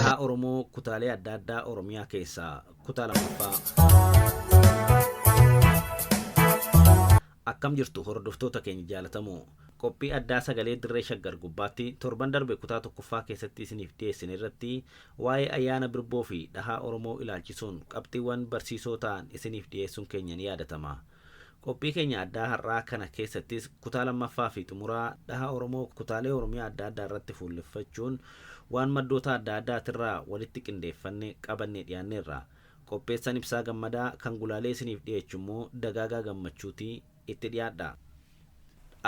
Haa Oromoo kutaalee adda addaa Oromiyaa keessaa kutaa lammaffaa. Akkam jirtu hordoftoota keenya jaalatamoo Qophii addaa Sagalee Dirree Shaggar gubbaatti torban darbe kutaa 1ffaa keessatti isiniif dhiyeessine irratti waa'ee ayyaana Birboo fi dhahaa Oromoo ilaalchisuun qabxiiwwan barsiisoo ta'an isiniif dhiyeessuun keenya ni yaadatama. Qophii keenya addaa har'aa kana keessattis kutaa 2ffaa fi xumuraa dhaha Oromoo kutaalee Oromiyaa adda addaa irratti fuulleffachuun waan maddoota adda addaatirraa walitti qindeeffanne qabannee dhiyaanneerra. Qopheessan Ibsaa Gammadaa, kan gulaalee isiniif dhiyeechu immoo Dagaagaa Gammachuuti. Itti dhiyaadhaa.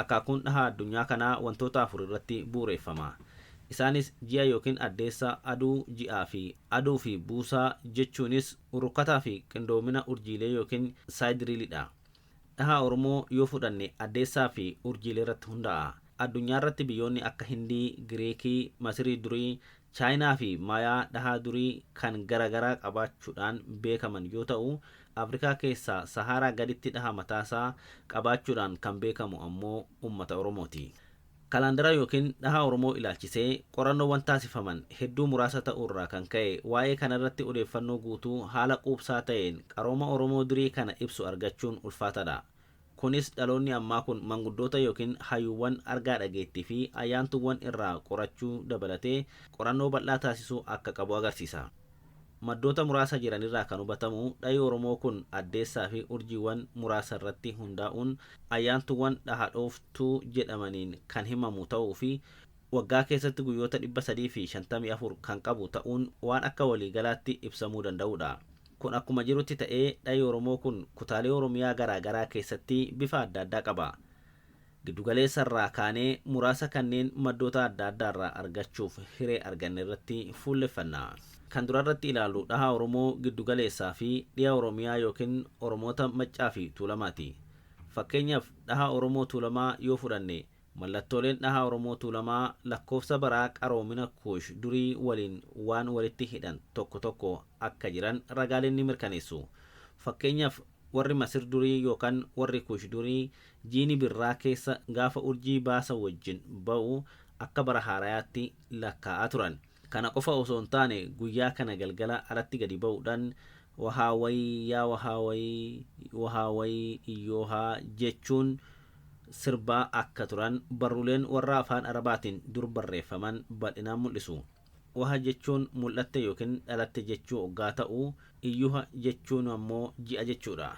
Akaakuun dhahaa addunyaa kanaa wantoota afur irratti bu'ureeffama. Isaanis ji'a yookiin addeessa, aduu, ji'aa fi aduu fi buusaa jechuunis rukkataa fi qindoomina urjiilee yookiin sidereal dha. Dhahaa Oromoo yoo fudhanne addeessaa fi urjiileerratti hundaa'a. Addunyaarratti biyyoonni akka Hindii, Giriikii, Masirii durii, Chaayinaa fi Mayaa dhahaa durii kan gara garaa qabaachuudhaan beekaman yoo ta'u, Afrikaa keessaa Sahaaraa gaditti dhaha mataasaa qabaachuudhaan kan beekamu ammoo ummata Oromooti. Kalaandara ykn dhaha Oromoo ilaalchisee qorannoowwan taasifaman hedduu muraasa ta'uurraa kan ka'e waa'ee kanarratti odeeffannoo guutuu haala quubsaa ta'een qarooma Oromoo durii kana ibsu argachuun ulfaataadha. Kunis dhaloonni ammaa kun manguddoota yookiin hayuuwwan argaa dhageettiifi ayyaantuuwwan irraa qorachuu dabalatee qorannoo bal'aa taasisuu akka qabu agarsiisa. Maddoota muraasa jiranirraa kan hubatamu dhahi Oromoo kun addeessaafi urjiiwwan muraasarratti hundaa'uun ayyaantuuwwan dhaha dhooftuu jedhamaniin kan himamu ta'uufi waggaa keessatti guyyoota 354 kan qabu ta'uun waan akka waliigalaatti ibsamuu danda'udha. Kun akkuma jirutti ta'ee dhahi Oromoo kun kutaalee Oromiyaa garaa garaa keessatti bifa adda addaa qaba. Giddu galeessa irraa kaanee muraasa kanneen maddoota adda addaa irraa argachuuf hiree arganne irratti fuulleffanna. Kan dura irratti ilaallu dhaha Oromoo giddu galeessaa fi dhiha Oromiyaa yookiin Oromoota Maccaa fi Tuulamaati. Fakkeenyaf dhaha Oromoo Tuulamaa yoo fudhanne Mallattooleen dhaha Oromoo Tuulamaa lakkoofsa baraa qaroomina Kuush durii waliin waan walitti hidhan tokko tokko akka jiran ragaaleen ni mirkaneessu. Fakkeenyaaf, warri Masir durii yookaan warri Kuush durii jiini birraa keessa gaafa urjii baasa wajjin ba'u akka bara haarayaatti lakkaa'aa turan. Kana qofa osoo hin taane guyyaa kana galgala alatti gadi ba'uudhaan wahaa wayii yaa wahaa wayii wahaa wayii iyyoohaa jechuun sirbaa akka turan barruuleen warra afaan arabaatiin dur barreeffaman bal'inaan mul'isu. Waha jechuun mul'atte yookiin dhalatte jechuu oggaa ta'u, iyyuha jechuun ammoo ji'a jechuudha.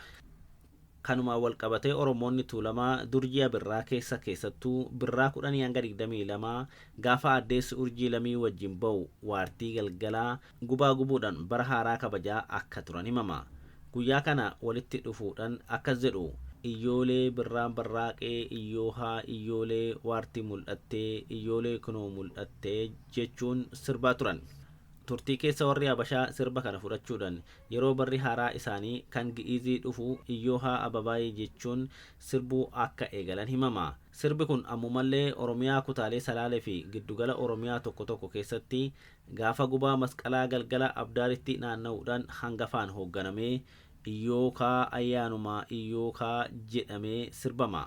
Kanumaan walqabatee Oromoonni Tuulamaa dur ji'a Birraa keessa keessattuu Birraa 10-22 gaafa Addeessi Urjii Lamii wajjin ba'u waartii galgalaa gubaa gubuudhan bara haaraa kabajaa akka turan himama. Guyyaa kana walitti dhufuudhan akkas jedhu, Iyyoolee Birraan barraaqee iyyoohaa iyyoolee waartii mul'attee iyyoolee kunoo mul'attee jechuun sirbaa turan. Turtii keessa warri Habashaa sirba kana fudhachuudhan Yeroo barri haaraa isaanii kan Gi'iizii dhufu Iyyoohaa Ababaayii jechuun sirbuu akka eegalan himama. Sirbi kun ammumallee Oromiyaa kutaalee Salaale fi giddugala Oromiyaa tokko tokko keessatti gaafa gubaa masqalaa galgala Abdaaritti naanna'uudhaan hangafaan hoogganamee Iyyookaa Ayyaanuma Iyyookaa jedhamee sirbama.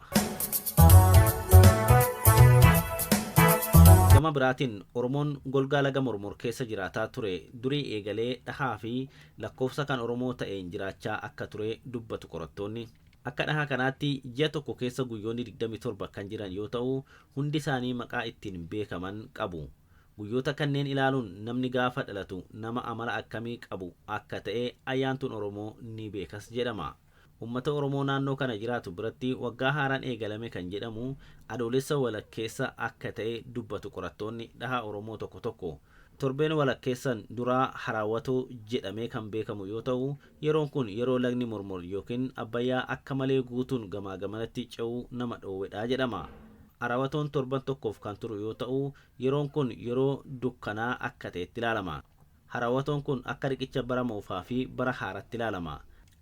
Gama biraatiin Oromoon golgaa laga Mormor keessa jiraataa ture durii eegalee dhahaa fi lakkoofsa kan Oromoo ta'een jiraachaa akka ture dubbatu qorattoonni. Akka dhahaa kanaatti ji'a tokko keessa guyyoonni 27 kan jiran yoo ta'u, hundi isaanii maqaa ittiin beekaman qabu. Guyyoota kanneen ilaaluun namni gaafa dhalatu nama amala akkamii qabu akka ta'e Ayyaantuun Oromoo ni beekas jedhama. Ummata Oromoo naannoo kana jiraatu biratti waggaa haaraan eegalame kan jedhamu Adoolessa walakkeessa akka ta'e dubbatu qorattoonni dhaha Oromoo tokko tokko. Torbeen walakkeessan duraa Haraawatoo jedhamee kan beekamu yoo ta'u, yeroon kun yeroo lagni Mormor ykn Abbayyaa akka malee guutuun gamaa gamanatti ce'uu nama dhoowwedha jedhama. Araawatoon torban tokkoof kan turu yoo ta'u, yeroon kun yeroo dukkanaa akka ta'etti ilaalama. Harawatoon kun akka riqicha bara moofaa fi bara haaratti ilaalama.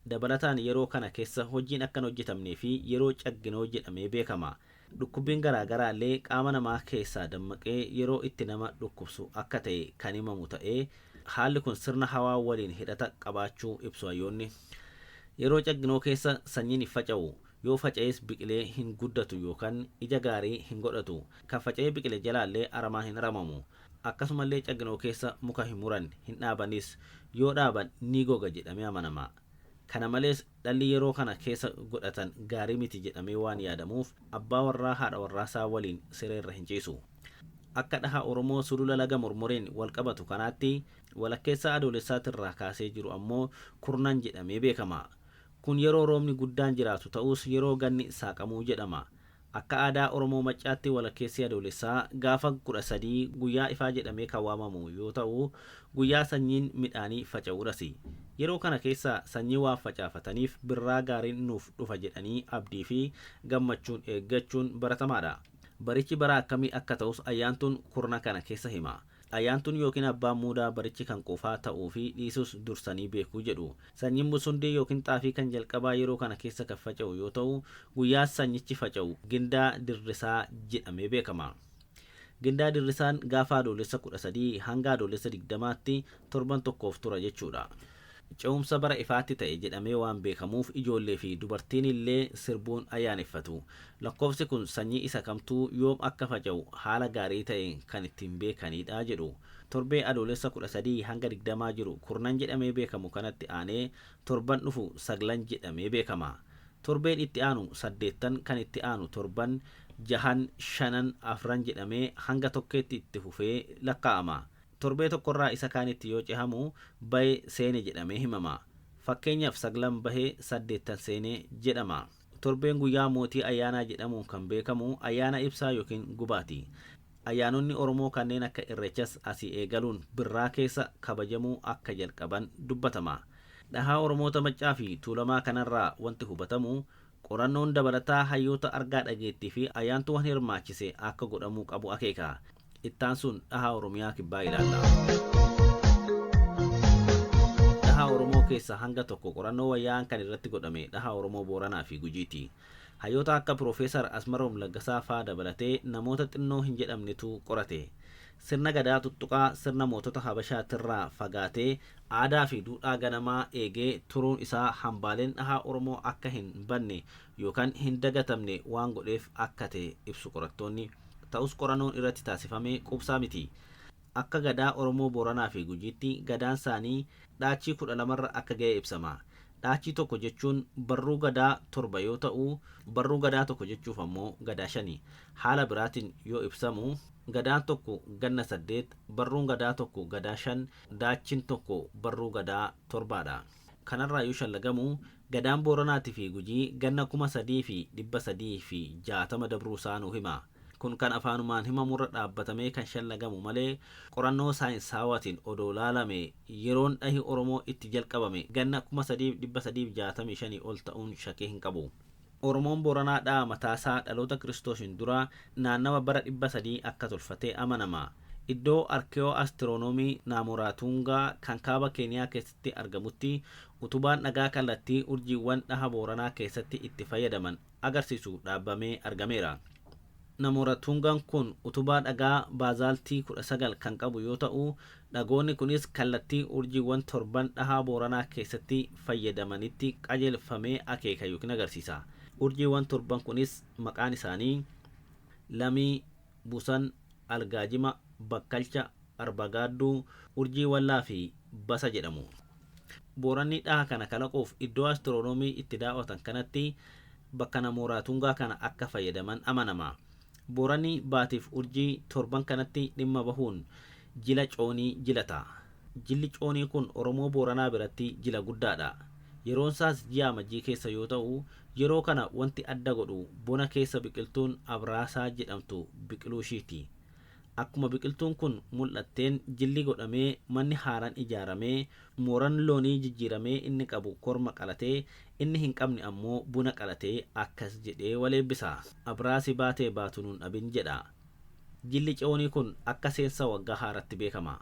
Dabalataan yeroo kana kessa hojjiin akka hin hojjetamnee fi yeroo cagginoo jedhamee beekama. Dhukkubbiin garaa garaa illee qaama namaa keessaa dammaqee yeroo itti nama dhukkubsu akka ta'e kan himamu ta'ee, haalli kun sirna hawaa waliin hidhata qabaachuu ibsu hayyoonni. Yeroo cagginoo keessa sanyiin hin faca'u. Yoo faca'es biqilee hin guddatu yookan ija gaarii hin godhatu. Kan faca'ee biqile jalaallee aramaa hin aramamu. Akkasumallee caggnoo keessa muka hin muran, hin dhaabanis. Yoo dhaaban ni goga jedhamee amanama. Kana malees dhalli yeroo kana keessa godhatan gaarii miti jedhamee waan yaadamuuf abbaa warraa haadha warraasaa waliin siree irra hin ciisu. Akka dhaha Oromoo Sulula Laga Mormoriin walqabatu kanaatti walakkeessaa Adoolessaatirraa kaasee jiru ammoo kurnan jedhamee beekama. Kun yeroo roobni guddaan jiraatu ta'us yeroo ganni saaqamu jedhama. Akka aadaa Oromoo Maccaatti walakkeessi Adoolessaa gaafa 13 guyyaa ifaa jedhamee kan waamamu yoo ta'u, guyyaa sanyiin midhaanii faca'uudhasi. Yeroo kana keessa sanyii waan facaafataniif birraa gaariin nuuf dhufa jedhanii abdiifi gammachuun eeggachuun baratamaadha. Barichi bara akkamii akka ta'us Ayyaantuun kurna kana keessa hima. Ayyaantuun yookiin abbaan muudaa barichi kan quufaa ta'uufi dhiisus dursanii beeku jedhu. Sanyiin busundee yookiin xaafii kan jalqabaa yeroo kana keessa kan faca'u yoo ta'u, guyyaa sanyichi faca'u Gindaa Dirrisaa jedhamee beekama. Gindaa Dirrisaan gaafa Adoolessa 13 hanga Adoolessa 20tti torban tokkoof tura jechuudha. Ce'umsa bara ifaatti ta'e jedhamee waan beekamuuf ijoollee fi dubartiin illee sirbuun ayyaaneffatu. Lakkoofsi kun sanyii isa kamtuu yoom akka faca'u haala gaarii ta'een kan ittiin beekaniidha jedhu. Torbee Adoolessa 13-20 jiru kurnan jedhamee beekamu kanatti aanee torban dhufu saglan jedhamee beekama. Torbeen itti aanu saddeettan, kan itti aanu torban, jahan, shanan, afran jedhamee hanga tokkeetti itti fufee lakkaa'ama. Torbee tokkorraa isa kaanitti yoo cehamu bahe seene jedhamee himama. Fakkeenyaf saglan bahe saddeettan seene jedhama. Torbeen guyyaa mootii ayyaanaa jedhamuun kan beekamu ayyaana ibsaa ykn gubaati. Ayyaanonni Oromoo kanneen akka Irreechas asii eegaluun Birraa keessa kabajamuu akka jalqaban dubbatama. Dhahaa Oromoota Maccaafi Tuulamaa kanarraa wanti hubatamu Qorannoon dabalataa hayyoota argaa dhageettii fi ayyaantuuwwan hirmaachise akka godhamuu qabu akeeka. Ittaansuun dhahaa Oromiyaa Kibbaa ilaalla. Dhahaa Oromoo keessaa hanga tokko qorannoo wayyaa'aan kan irratti godhame dhahaa Oromoo Booranaa fi Gujiiti. Hayyoota akka Piroofeesar Asmaroom Laggasaa faa dabalatee namoota xinnoo hin jedhamnetu qorate. Sirna Gadaa tuttuqaa sirna mootota Habashaatirraa fagaatee, aadaafi duudhaa ganamaa eegee turuun isaa hambaaleen dhahaa Oromoo akka hin badne yookan hin dagatamne waan godheef akka ta'e ibsu qorattoonni. Ta'us qoranoon irratti taasifame quubsaa miti. Akka Gadaa Oromoo Booranaafi Gujiitti gadaansaanii dhaachii 12rra akka ga'e ibsama. Dhaachii tokko jechuun barruu Gadaa torba yoo ta'u, barruu Gadaa tokko jechuuf ammoo Gadaa shani. Haala biraatiin yoo ibsamu. Gadaan tokko ganna saddeet, barruun Gadaa tokko Gadaa shan, Daachin tokko barruu Gadaa torbaa dha. Kanarraa yoo shallagamu, Gadaan Booranaatii fi Gujii ganna kuma sadii fi dhibba sadii fi jaatama dabruu isaa nuu hima. Kun kan afaanumaan himamurra dhaabbatamee kan shallagamu malee qorannoo saayinsaawaatiin odoo laalame yeroon dhahi Oromoo itti jalqabame ganna kuma sadii fi dhibba sadii fi jaatamii shanii ol ta'uun shakii hin qabu. Oromoon Booranaa dha'a mataasaa dhaloota Kiristoosiin dura naannawa bara 300 akka tolfate amanama. Iddoo Arkewoo Astironoomii Naamooraatuungaa kan kaaba Keeniyaa keessatti argamutti utubaan dhagaa kallattii urjiiwwan dhaha Booranaa keessatti itti fayyadaman agarsiisu dhaabbamee argameera. Namo Ratungan kun utubaa dhagaa baazaaltii 19 kan qabu yoo ta'u, dhagoonni kunis kallattii urjiiwwan torban dhahaa Booranaa keessatti fayyadamanitti qajeelfamee akeeka ykn agarsiisa. Urjiiwwan torban kunis maqaan isaanii, Lamii, Busan, Algaajima, Bakkalcha, Arba Gaadduu, Urjii Wallaa fi Basa jedhamu. Booranni dhaha kana kalaquuf iddoo astiroonoomii itti daaw'atan kanatti bakka namooraa tungaa kana akka fayyadaman amanama. Booranni Baatiif Urjii torban kanatti dhimma bahuun jila Coonii jilata. Jilli Coonii kun Oromoo Booranaa biratti jila guddaadha. Yeroonsaas ji'a Amajjii keessa yoo ta'u, yeroo kana wanti adda godhu bona keessa biqiltuun Abraasaa jedhamtu biqiluushiiti. Akkuma biqiltuun kun mul'atteen jilli godhamee manni haaraan ijaaramee mooran loonii jijjiiramee inni qabu korma qalatee inni hin qabne ammoo buna qalatee akkas jedhee wal eebbisa. Abraasi baatee baatu nun dhabin jedha. Jilli Ce'oonii kun akka seensa waggaa haaraatti beekama.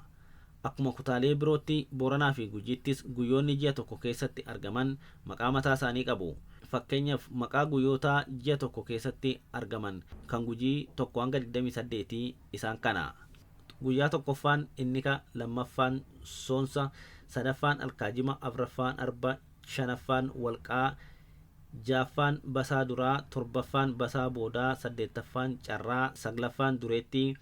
Akkuma kutaalee birootti Booranaa fi Gujiittis guyyoonni ji'a tokko keessatti argaman maqaa mataa isaanii qabu. Fakkeenyaf maqaa guyyootaa ji'a tokko keessatti argaman kan Gujii 1-28 isaan kana. Guyyaa tokkoffaan Innika, lammaffaan Soonsa, sadaffaan Alkaajima, afraffaan Arba, shanaffaan Walqaa, ja'affaan Basaa Duraa, torbaffaan Basaa Boodaa, saddeettaffaan Carraa, saglaffaan Dureettii,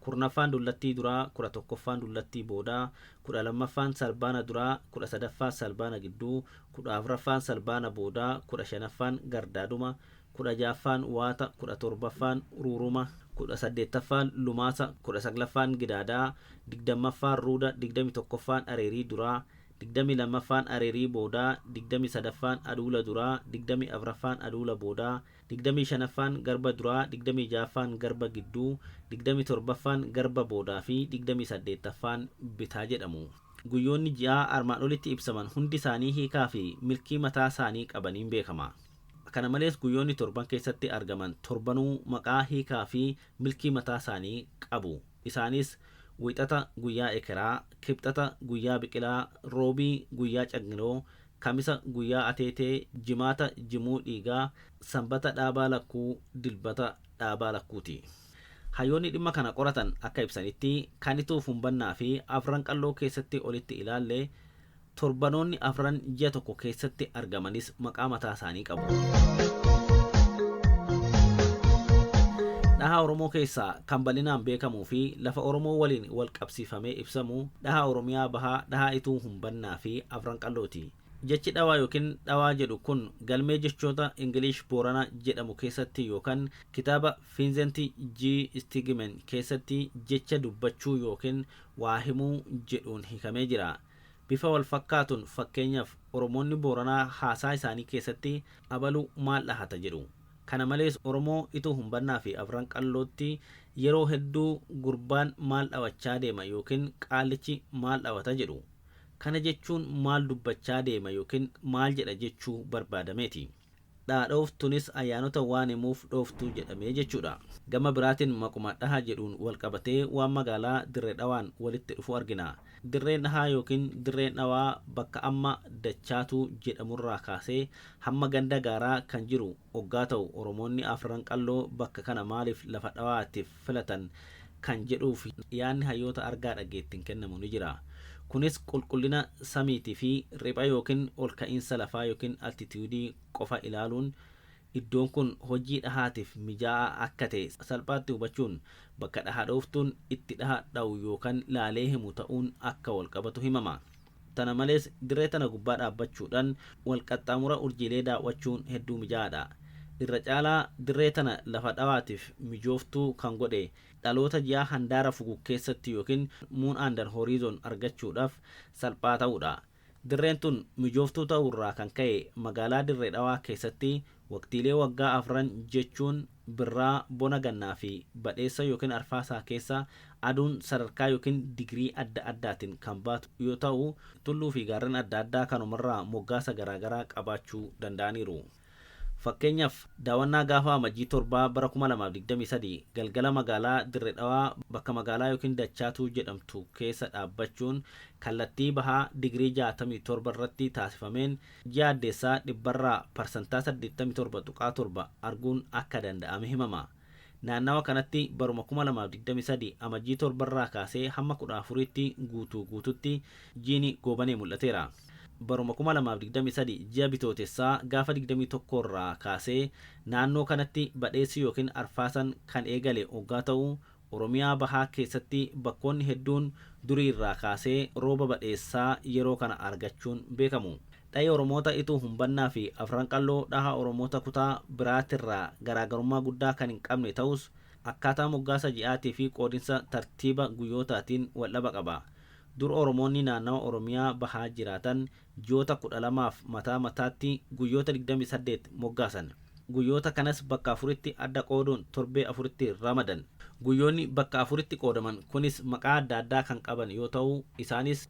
kurnaffaan dullattii duraa, kudha tokkoffaan dullattii boodaa, kudha lammaffaan salbaana duraa, kudha sadaffaa salbaana gidduu, kudha afraffaan salbaana boodaa, kudha shanaffaan gardaaduma, kudha ja'affaan waata, kudha torbaffaan uruuruma, kudha saddeettaffaan lumaasa, kudha saglaffaan gidaadaa, digdammaffaan ruuda, digdamii tokkoffaan areerii duraa, digdamii lammaffaan areerii boodaa, digdamii sadaffaan aduula duraa, digdamii afraffaan aduula boodaa, 25ffaan garba duraa, 26ffaan garba gidduu, 27ffaan garba boodaa fi 28ffaan bitaa jedhamu. Guyyoonni ji'aa armaan olitti ibsaman hundi isaanii hiikaa fi milkii mataa isaanii qabaniin beekama. Kana malees guyyoonni torban keessatti argaman torbanuu maqaa, hiikaa fi milkii mataa isaanii qabu. Isaanis, Wiixata, guyyaa ekeraa, Kibxata, guyyaa biqilaa, Roobii, guyyaa cagngiloo, Kamisa guyyaa ateetee, Jimaata jimuu dhiigaa, Sanbata dhaabaa lakkuu, Dilbata dhaabaa lakkuuti. Hayyoonni dhimma kana qoratan akka ibsanitti, kan ituuf hunbannaafi afran qalloo keessatti olitti ilaalle, torbanoonni afran ji'a tokko keessatti argamanis maqaa mataa isaanii qabu. Dhaha Oromoo keessaa kan bal'inaan beekamuufi lafa Oromoo waliin walqabsiifamee ibsamu, dhaha Oromiyaa Bahaa, dhaha ituu Bannaa fi Afran Qalloo ti. Jechi dhawaa yookiin dhawaa jedhu kun galmee jechoota English Boorana jedhamu keessatti yookan kitaaba Vincent G. Stigman keessatti jecha dubbachuu yookiin waa himuu jedhuun hiikamee jira. Bifa wal fakkaatuun fakkeenyaf Oromoonni Booranaa haasaa isaanii keessatti abalu maal dhahata jedhu. Kana malees Oromoo Ituu Humbannaa fi Afran Qallootti yeroo hedduu gurbaan maal dhawachaa deema ykn qaallichi maal dhawata jedhu. Kana jechuun maal dubbachaa deema ykn maal jedha jechuu barbaadameeti. Dhaadhooftunis ayyaanota waan himuuf dhooftuu jedhame jechuudha. Gama biraatiin maquma dhaha jedhuun walqabatee waan magaalaa Dirre Dhawaan walitti dhufu argina. Dirree Dhahaa ykn Dirree Dhawaa bakka amma Dachaatuu jedhamurraa kaasee hamma ganda Gaaraa kan jiru oggaa ta'u Oromoonni Afran Qalloo bakka kana maaliif lafa dhawaatiif filatan kan jedhuuf yaadni hayyoota argaa dhageettiin kennamu ni jira. Kunis qulqullina samiitii fi ripha ykn olka'iinsa lafaa ykn altitiyuudii qofa ilaaluun Iddoon kun hojii dhahaatiif mijaa'aa akka ta'e salphaatti hubachuun bakka dhaha dhooftuun itti dhaha dhahu yookan laalee himu ta'uun akka wal qabatu himama. Tana malees dirree tana gubbaa dhaabbachuudhan wal qaxxaamura urjiilee daaw'achuun hedduu mijaa'aadha. Irra caalaa dirree tana lafa dhawaatiif mijooftuu kan godhe dhaloota ji'aa handaara fugug keessatti yookin moon under horizon argachuudhaf salphaa ta'uudha. Dirreen tun mijooftuu ta'uu irraa kan ka'e magaalaa Dirre Dhawaa keessatti waqtiilee waggaa afran jechuun Birraa, Bona Gannaa fi Badheessa ykn Arfaasaa keessa aduun sadarkaa ykn digirii adda addaatin kan baatu yoo ta'u, tulluu fi gaarren adda addaa kanumarraa moggaasa garaagaraa qabaachuu danda'aniiru. Fakkeenyaaf, daawannaa gaafa Amajjii 7 bara 2023 galgala magaalaa Dirre Dhawaa bakka magaalaa ykn Dachaatuu jedhamtu keessa dhaabbachuun kallattii bahaa digirii 67 irratti taasifameen ji'a addeessaa dhibbarraa parsantaa 87.7 arguun akka danda'ame himama. Naannawa kanatti baruma 2023 Amajjii 7 irraa kaasee hamma 14tti guutuu guututti jiini Goobanee mul'ateera. Baruma 2023 ji'a Bitootessaa gaafa 21 irraa kaasee naannoo kanatti badheessi yookiin arfaasan kan eegale oggaa ta'u, Oromiyaa Bahaa keessatti bakkoonni hedduun durii irraa kaasee rooba badheessaa yeroo kana argachuun beekamu. Dhahi Oromoota Ituu Humbannaa fi Afran Qalloo dhaha Oromoota kutaa biraatirraa garaagarummaa guddaa kan hin qabne ta'us, akkaataa moggaasa ji'aatii fi qoodinsa tartiiba guyyootaatiin waldhaba qaba. Dur Oromoonni naannawa Oromiyaa bahaa jiraatan ji'oota 12f mataa mataatti guyyoota 28 moggaasan. Guyyoota kanas bakka afuritti adda qooduun torbee afuritti ramadan. Guyyoonni bakka afuritti qoodaman kunis maqaa adda addaa kan qaban yoo ta'u, isaanis.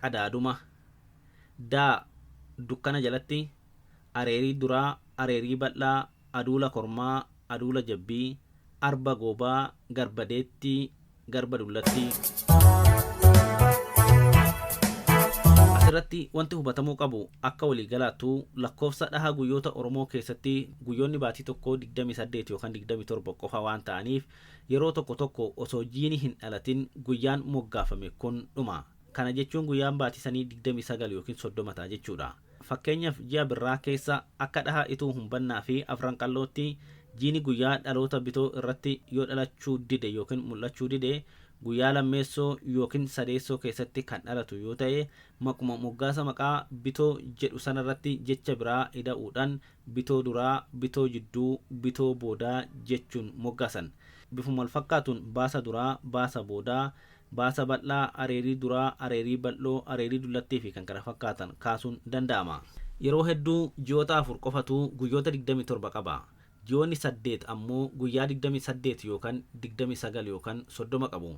qadaaduma. D. Dukkana jalatti areerii duraa, areerii bal'aa, aduula kormaa, aduula jabbii, arba goobaa, garba deettii, garba dullattii. As irratti wanti hubatamuu qabu akka walii galaattuu lakkoofsa dhaha guyyoota Oromoo keessatti guyyoonni baatii tokkoo 28 yookan 27 qofa waan ta'aniif yeroo tokko tokko osoo jiini hin dhalatin guyyaan moggaafame kun dhuma. Kana jechuun guyyaan baatii sanii 29 ykn 30 ta'a jechuudha. Fakkeenyaf ji'a Birraa keessa akka dhaha Ituu Humbannaa fi Afran Qallootti jiini guyyaa dhaloota Bitoo irratti yoo dhalachuu dide ykn mul'achuu dide guyyaa lammeessoo ykn sadeessoo keessatti kan dhalatu yoo ta'e maquma moggaasa maqaa Bitoo jedhu sanarratti jecha biraa ida'uudhan Bitoo duraa, Bitoo jidduu, Bitoo boodaa jechuun moggaasan. Bifuma wal fakkaatuun Baasa duraa, Baasa boodaa, Baasa bal'aa, areerii duraa, areerii bal'oo, areerii dullattii fi kan kana fakkaatan kaasuun danda'ama. Yeroo hedduu ji'oota afur qofatu guyyoota 27 qaba. Ji'oonni saddeet ammoo guyyaa 28 yookan 29 yookan 30 qabu.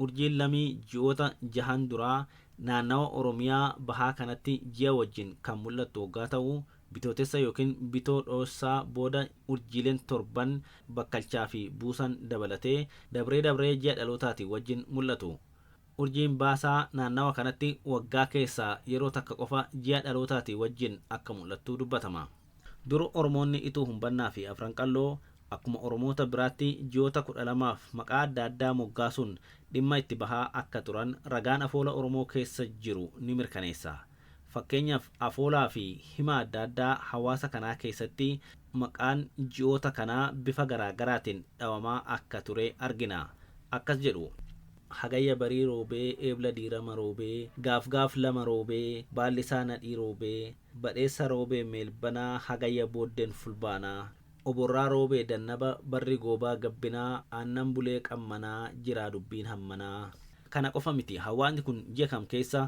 Urjiin Lamii ji'oota jahan duraa naannawa Oromiyaa bahaa kanatti ji'a wajjin kan mul'attu oggaa ta'u, Bitootessa ykn Bitoo dhoossaa booda urjiileen torban bakkalchaa fi buusan dabalatee dabree dabree ji'a dhalootaatiin wajjin mul'atu. Urjiin baasaa naannawa kanatti waggaa keessaa yeroo takka qofa ji'a dhalootaatii wajjin akka mul'attu dubbatama. Dur Oromoonni Ituu Humbannaa fi Afran Qalloo akkuma Oromoota biraatti ji'oota 12f maqaa adda addaa moggaasuun dhimma itti bahaa akka turan ragaan afoola Oromoo keessa jiru ni mirkaneessa. Fakkeenyaaf, afoolaafi hima adda addaa hawaasa kanaa keessatti maqaan ji'oota kanaa bifa garaa garaatiin dhawamaa akka ture argina. Akkas jedhu. Hagayya barii roobee, Eebla diirama roobee, Gaafgaaf lama roobee, Baallisaa nadhii roobee, Badheessa roobee meelbana, Hagayya booddeen fulbaana. Oborraa roobee dannaba barri goobaa gabbinaa aannan bulee qammanaa jiraa dubbiin hammanaa. Kana qofa miti hawaasni kun ji'a kam keessa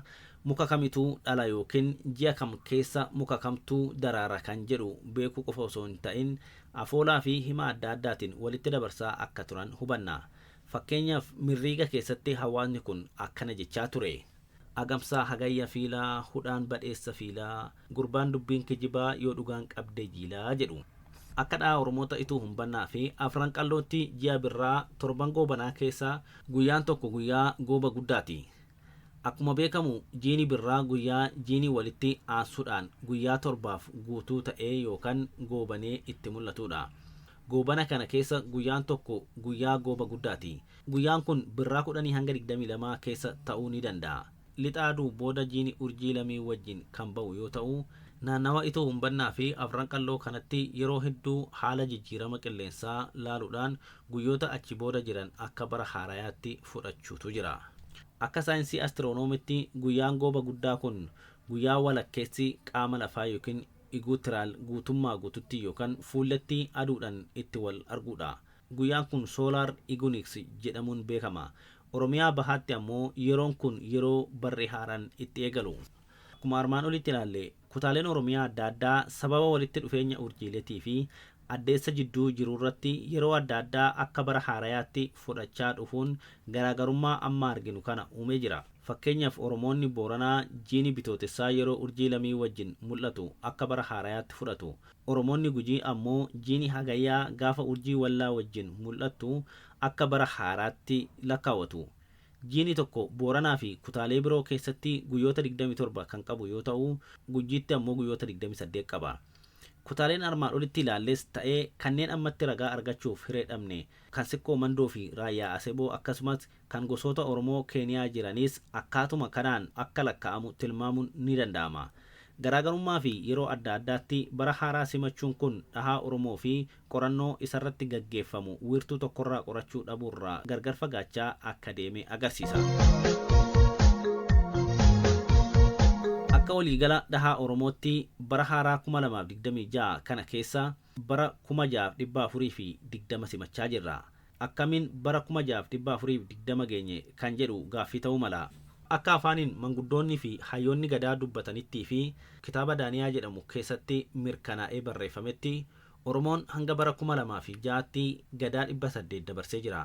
muka kamitu dhala yookiin ji'a kam keessa muka kamtu daraara kan jedhu beekuu qofa osoo hin ta'in afoolaafi hima adda addaatiin walitti dabarsaa akka turan hubanna. Fakkeenyaaf Mirriiga keessatti hawaasni kun akkana jechaa ture. Agamsaa Hagayya fiila, hudhaan badheessa fiila. Gurbaan dubbiin kijibaa yoo dhugaan qabdee jiilaa jedhu. Akka dhahaa Oromoota Ituu Humbannaa fi Afran Qallootti ji'a Birraa torban Goobanaa keessa guyyaan tokko guyyaa Gooba Guddaati. Akkuma beekamu jiini Birraa guyyaa jiini walitti aansuudhaan guyyaa torbaaf guutuu ta'ee yookan goobanee itti mul'atuudha. Goobana kana keessa guyyaan tokko guyyaa Gooba Guddaati. Guyyaan kun Birraa 10-22 keessa ta'uu ni danda'a. Lixa Aduu booda jiini urjii lamii wajjin kan ba'u yoo ta'u, naannawa Itoo Humbannaa fi Afran Qalloo kanatti yeroo hedduu haala jijjiirama qilleensaa laaluudhaan guyyoota achi booda jiran akka bara haarayaatti fudhachuutu jira. Akka saayinsii astiroonomiitti guyyaan gooba guddaa kun guyyaa walakkeessi qaama lafaa yookiin iguutiraal guutummaa guututti yookan fuulletti aduudhan itti wal arguudha. Guyyaan kun soolaar iguniiksi jedhamuun beekama. Oromiyaa Bahaatti ammoo yeroon kun yeroo barri haaraan itti eegalu. Akkuma armaan olitti ilaalle kutaaleen Oromiyaa adda addaa sababa walitti dhufeenya urjiiletii fi addeessa jidduu jiruurratti yeroo adda addaa akka bara haarayaatti fudhachaa dhufuun garaagarummaa amma arginu kana uumee jira. Fakkeenyaaf Oromoonni Booranaa jiini Bitootessaa yeroo urjii lamii wajjin mul'atu akka bara haarayaatti fudhatu. Oromoonni Gujii ammoo jiini Hagayyaa gaafa urjii wallaa wajjin mul'attu akka bara haaraatti lakkaawatu. Jiini tokko Booranaafi kutaalee biroo keessatti guyyoota 27 kan qabu yoo ta'u, Gujiitti ammoo guyyoota 28 qaba. Kutaaleen armaan olitti ilaalles ta'ee kanneen ammatti ragaa argachuuf hiree dhabne kan Sikkoo Mandoofi Raayyaa Aseboo akkasumas Kan gosoota Oromoo Keeniyaa jiraniis akkaatuma kanaan akka lakka'amu tilmaamuun ni danda'ama. Garaagarummaa fi yeroo adda addaatti bara haaraa simachuun kun dhahaa Oromoo fi qorannoo isarratti gaggeeffamu wiirtuu tokkorraa qorachuu dhabuurraa gargar fagaachaa akka deeme agarsiisa. Akka waliigala dhahaa Oromootti bara haaraa 2026 kana keessa Bara 6420 simachaa jirra. Akkamiin bara 6420 geenye kan jedhu gaaffii ta'uu mala. Akka afaaniin manguddoonnii fi hayyoonni Gadaa dubbatanittii fi kitaaba Daaniyaa jedhamu keessatti mirkanaa'ee barreeffametti Oromoon hanga bara 2006tti Gadaa 800 dabarsee jira.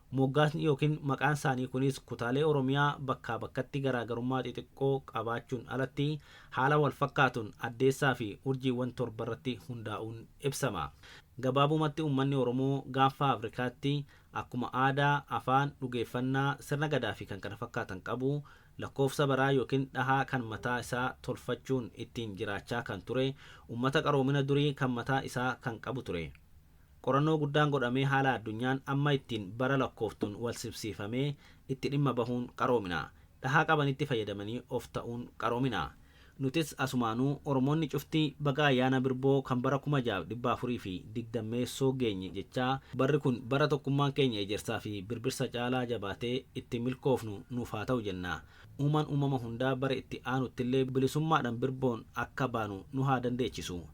Moggaasni yookiin maqaan isaanii kunis kutaalee Oromiyaa bakkaa bakkatti garaagarummaa xixiqqoo qabaachuun alatti haala walfakkaatuun Addeessaafi urjiiwwan torbarratti hundaa'uun ibsama. Gabaabumatti uummanni Oromoo Gaanfa Afrikaatti akkuma aadaa, afaan, dhugeeffannaa, sirna Gadaafi kan kana fakkaatan qabu lakkoofsa baraa yookiin dhahaa kan mataa isaa tolfachuun ittiin jiraachaa kan ture uummata qaroomina durii kan mataa isaa kan qabu ture. Qorannoo guddaan godhamee haala addunyaan amma ittiin bara lakkooftuun walsimsiifamee itti dhimma bahuun qaroomina. Dhahaa qabanitti fayyadamanii of ta'uun qaroomina. Nutis asumaanuu Oromoonni cufti baga ayyaana Birboo kan bara 6420 meessoo geenye jechaa barri kun bara tokkummaan keenya ejersaafi birbirsa caalaa jabaatee ittiin milkoofnu nuuf haa ta'u jenna. Uumaan uumama hundaa bara itti aanuttillee bilisummaadhaan Birboon akka baanu nu haa dandeechisu.